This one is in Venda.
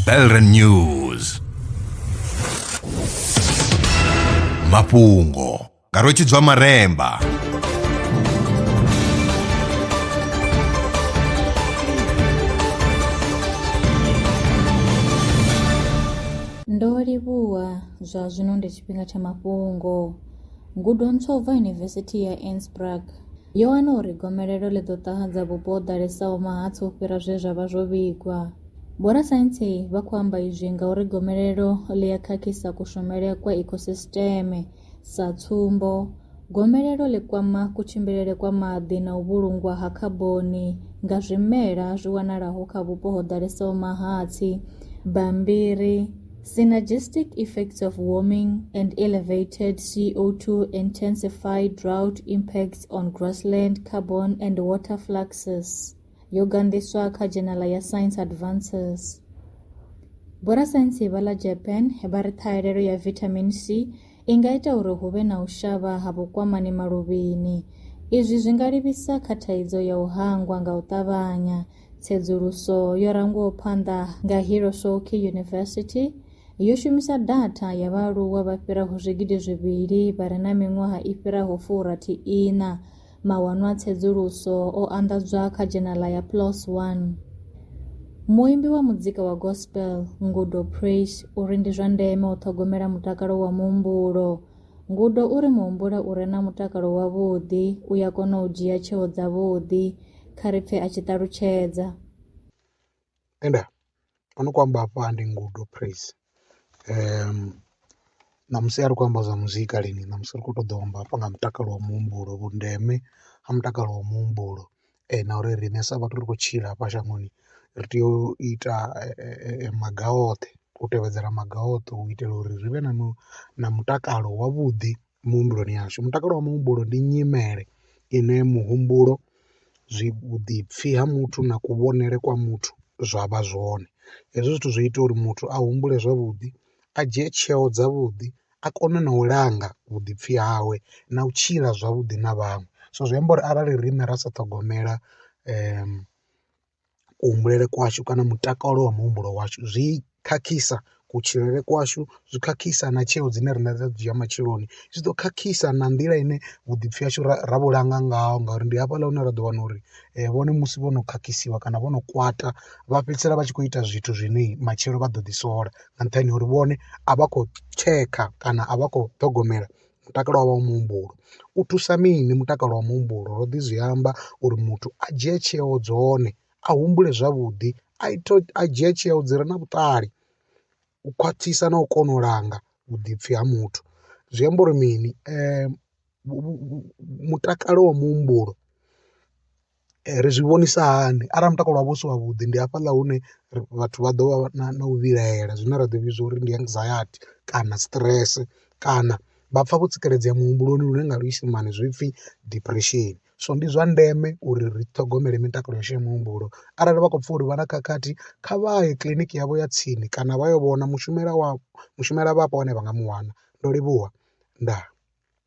Belren News mafhungo nga rwetshidzwa maremba Ndo livhuwa zwa zwino ndi tshifhinga tsha mafhungo. Ngudo ntswa u bva Yunivesithi ya Innsbruck. yo wana uri gomelelo ḽi ḓo ṱahadza vhupo ho ḓalesaho mahatsi u fhira zwe zwa vha zwo vhigwa. Vhorasaintsi vha khou amba izwi ngauri gomelelo ḽi a khakhisa kushumele kwa ikhosisiteme. Sa tsumbo, gomelelo ḽi kwama kutshimbilele kwa maḓi na u vhulungwa ha khaboni nga zwimela zwi wanalaho kha vhupo ho ḓalesaho mahatsi. Bammbiri. Synergistic effects of warming and elevated CO2 intensify drought impacts on grassland, carbon, and water fluxes. yo gandiswa kha dzhenala ya Science Advances. Vhorasaintsi vha ḽa Japan vha ri ṱhahelelo ya vitamin C i nga ita uri hu vhe na u shavha ha vhukwamani maluvhini. Izwi zwi nga livhisa kha thaidzo ya u hangwa nga u ṱavhanya Tsedzuluso yo rangwaho phanḓa nga Hirosoki University yo shumisa datha ya vhaaluwa vha fhiraho zwigidi zwivhili vha re na miṅwaha i fhiraho furathi iṋa. Mawanwa a tsedzuluso o anḓadzwa kha dzhenala ya PLOS One. Muimbi wa muzika wa gospel Ngudo Praise uri ndi zwa ndeme u ṱhogomela mutakalo wa muhumbulo. Ngudo uri muhumbula u re na mutakalo wavhuḓi u ya kona u dzhia tsheo dzavhuḓi. kha ri pfhe a tshi ṱalutshedza. Ende o no kho amba hafha ndi ngudo praise ṋamusi a ri kho amba zwa muzika lini ṋamusi ri kho ṱoḓa u amba hafha nga mutakalo wa muhumbulo vhundeme ha mutakalo wa muhumbulo na uri riṋe sa vhathu ri khou tshila hafha shangoni ri tea u ita maga oṱhe u tevhedzela maga oṱhe u itela uri ri vhe na na mutakalo wavhuḓi muhumbuloni yashu mutakalo wa muhumbulo ndi nyimele ine muhumbulo zwi vhuḓipfi ha muthu na kuvhonele kwa muthu zwa vha zwone. Hezwi zwithu zwi ita uri muthu a humbule zwavhuḓi a dzhie tsheo dza vhuḓi a kone na u langa vhuḓipfi hawe na u tshila zwavhuḓi na vhaṅwe so zwi amba uri arali riṋe ra sa ṱhogomela . kuhumbulele kwashu kana mutakalo wa muhumbulo washu zwi khakhisa kutshilele kwashu zwi khakhisa na tsheo dzine riṋe ra dzhia matsheloni zwi ḓo khakhisa na nḓila ine vhuḓipfi hashu ra ra vhu langa ngaho ngauri ndi hafhaḽa hune ra ḓo wana uri vhone musi vho no khakhisiwa kana vho no kwata vha fhedzisela vha tshi kho ita zwithu zwine matshelo vha ḓo ḓi sola nga nṱhani ha uri vhone a vha khou tshekha kana a vha khou ṱhogomela mutakalo wavho wa muhumbulo u thusa mini mutakalo wa muhumbulo ro ḓi zwi amba uri muthu a dzhie tsheo dzone a humbule zwavhuḓi a ita a dzhia tsheo dzi re na vhuṱali u khwaṱhisa na u kona u langa vhuḓipfi ha muthu zwi amba uri mini mutakalo wa muhumbulo. ri zwi vhonisa hani arali mutakalo wavho u si wavhuḓi ndi hafhaḽa hune vhathu vha ḓo vha na u vhilahela zwine ra ḓo vhidza uri ndi anxiety kana stress kana vha pfha vho tsireledzea muhumbuloni lune nga luisimane zwipfhi depression. So ndi zwa ndeme uri ri ṱhogomele mitakalo yashu ya muhumbulo arali vha khou pfha uri vha na khakhathi kha vha ye kiḽiniki yavho ya tsini kana vha yo vhona mushumela wa mushumela vhapo vhane vha nga mu wana ndo livhuwa ndaa.